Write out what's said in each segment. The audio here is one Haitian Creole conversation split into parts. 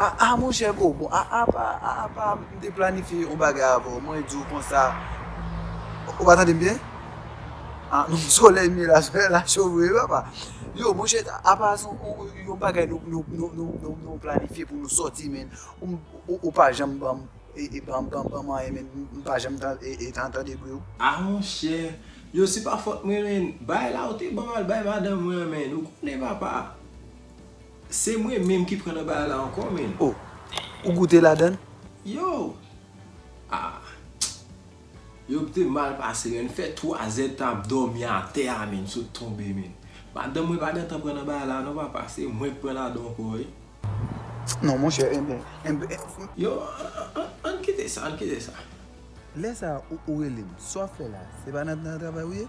Aa monchè kou bon aa pa aa pa m te planifye yon bagay avè w mwen di w konsa ou pa tande m byen aa non solèy m ye la solèy la cho vre wi papa yo monchè aa pa son yon bagay nou planifye pou nou sòti menn ou pa janm ban m anyen menn m pa janm tande bri w. Aa monchè yo se pa fòt mwen menn bay la ou te ban m al bay madanm mwen an menn ou konnen papa. Se mwen menm ki pran nan bagay la ankò menn. Oh ou goute ladann? Yow! Ah Yo te mal pase menn, m fè 3 zè tan ap dòmi atè a menn, m sot tonbe menn. Madanm mwen pa gentan pran nan bagay la non papa, se mwen k pran ladan ankò wi. Non monchè enben. Yo ann kite sa, ann kite sa. Lè sa ou rele m, sa w ap fè la? Se pa nan travay ou ye?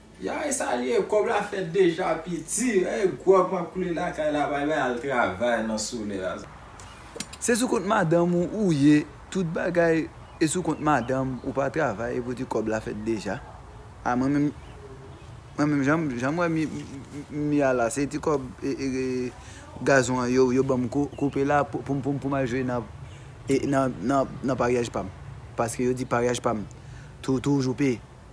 Ya e sa liye kob la fet deja piti e grog map koule lakay la bay bay al travay nan sole a. Se sou kont madanm ou ou ye tout bagay e sou kont madanm ou pa travay e pou di kob la fet deja a mwen menm mwen menm janm wè mi a la se ti kob gazon an yo banm koupe la poum al jwe nan paryaj pam paske yo di paryaj pam toujou peye.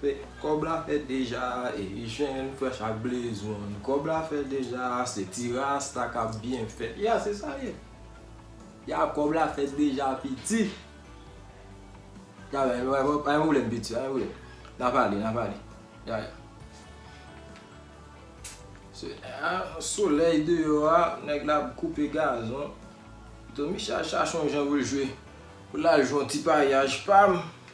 Fè kòb la fè deja e jèn frèch ak blezon kòb la fè deja se ti rasta kap byen fè ya se sa ye ya kòb la fèt deja piti ya ya pa gen pwoblèm piti pa gen pwoblèm nap ale nap ale ya ya se ya solèy deyò a nèg la ap koupe gazon Tomicha chache yon jan pou l jwe pou l al jwe yon ti paryaj pam.